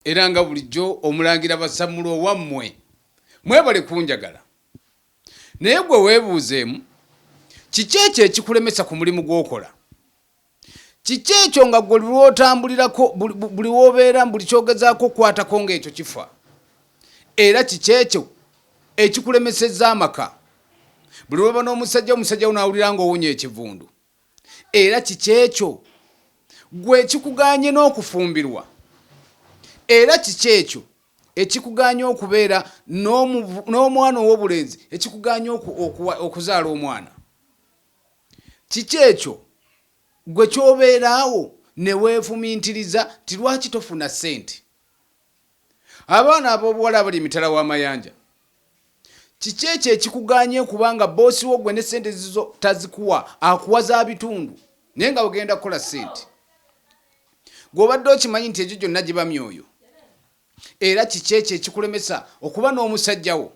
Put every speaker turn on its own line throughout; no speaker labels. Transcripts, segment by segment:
Era nga bulijjo Omulangira Basammula owammwe, mwebale kunjagala. Naye ggwe weebuuzeemu, kiki ekyo ekikulemesa ku mulimu gw'okola? Kiki ekyo nga ggwe buli lw'otambulirako, buli w'obeera, buli ky'ogezaako okukwatako ng'ekyo kifa? Era kiki ekyo ekikulemesezza amaka? Buli lw'oba n'omusajja, omusajja wo n'awulira ng'owunya ekivundu. Era kiki ekyo? Ggwe ekikugaanye n'okufumbirwa? Era kiki ekyo ekikugaanye okubeera n'omwana ow'obulenzi, ekikugaanye okuzaala omwana? Kiki ekyo ggwe ky'obeera awo ne weefumintiriza nti lwaki tofuna ssente? Abaana ab'obuwala abali emitala w'amayanja. Kiki ekyo ekikugaanye okuba nga bboosi wo gwe ne ssente zizo tazikuwa, akuwa za bitundu naye nga ogenda kukola ssente? Gwe obadde okimanyi nti egyo gyonna giba myoyo? Era kiki ekyo ekikulemesa okuba n'omusajja wo?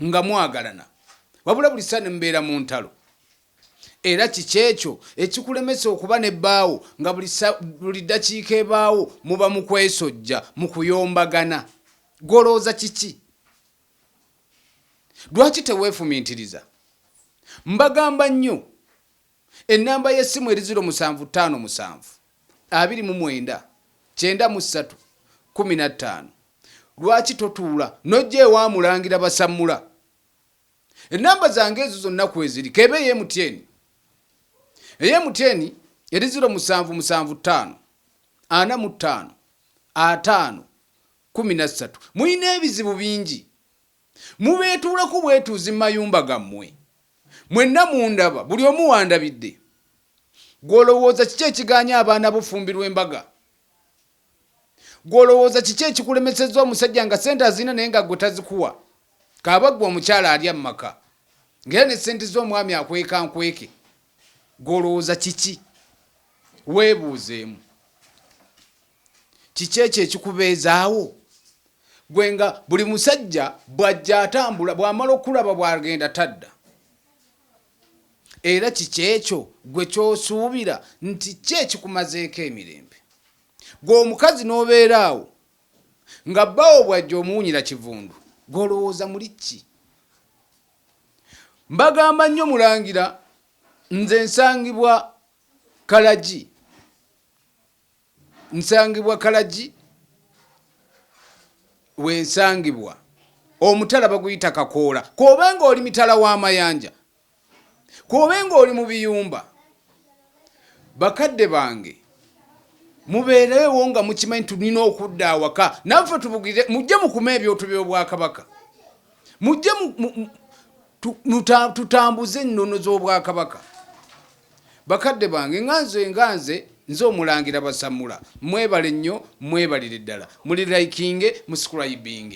nga mwagalana wabula buli kiseera ne mubeera mu ntalo. Era kiki ekyo ekikulemesa okuba ne bbaawo nga buli, buli ddakiika ebaawo muba mu kwesojja, mu kuyombagana? Gw'olowooza kiki? Lwaki teweefumiitiriza? Mbagamba nnyo. Ennamba y'essimu eri ziro musanvu ttaano musanvu abiri mu mwenda kyenda mu ssatu kkumi na ttaano. Lwaki totuula n'ojja ewa Mulangira Basammula? Ennamba zange ezo zonna kweziri, k'ebe eye Mutyeni. Eye Mutyeni eri ziro musanvu musanvu ttaano ana mu ttaano ataano kkumi na ssatu. Mulina ebizibu bingi Mubeetuulako bwetuuzi mu mayumba gammwe. Mwenna mundaba, buli omu w'andabidde. Ggwe olowooza kiki ekigaanye abaana bo okufumbirwa embaga? Ggwe olowooza kiki ekikulemesezza omusajja nga ssente azirina naye nga ggwe tazikuwa? Kaaba ggwe omukyala alya mu maka ng'era ne ssente ze omwami akweka nkweke. Ggwe olowooza kiki? Weebuuzeemu. kiki ekyo ekikubeezaawo gwe nga buli musajja bw'ajja atambula bw'amala okulaba bw'agenda tadda era kiki ekyo gwe ky'osuubira nti ki ekikumazeeko emirembe gwe omukazi n'obeera awo nga bbawo bw'ajja omuwunyira kivundu gw'olowooza muli ki mbagamba nnyo mulangira nze nsangibwa kalagi Nsangibwa Kalagi we nsangibwa. Omutala baguyita Kakoola. K'obe ng'oli mitala wa mayanja, k'obe ng'oli mu biyumba, bakadde bange mubeereewo nga mukimanyi tulina okudda awaka naffe tubugire. Mujje mukume ebyoto by'Obwakabaka, mujje tutambuze ennono z'obwakabaka bakadde bange nga nze nga nze nze omulangira basamula mwebale nnyo mwebalire ddala muli likinge musikulaibiinge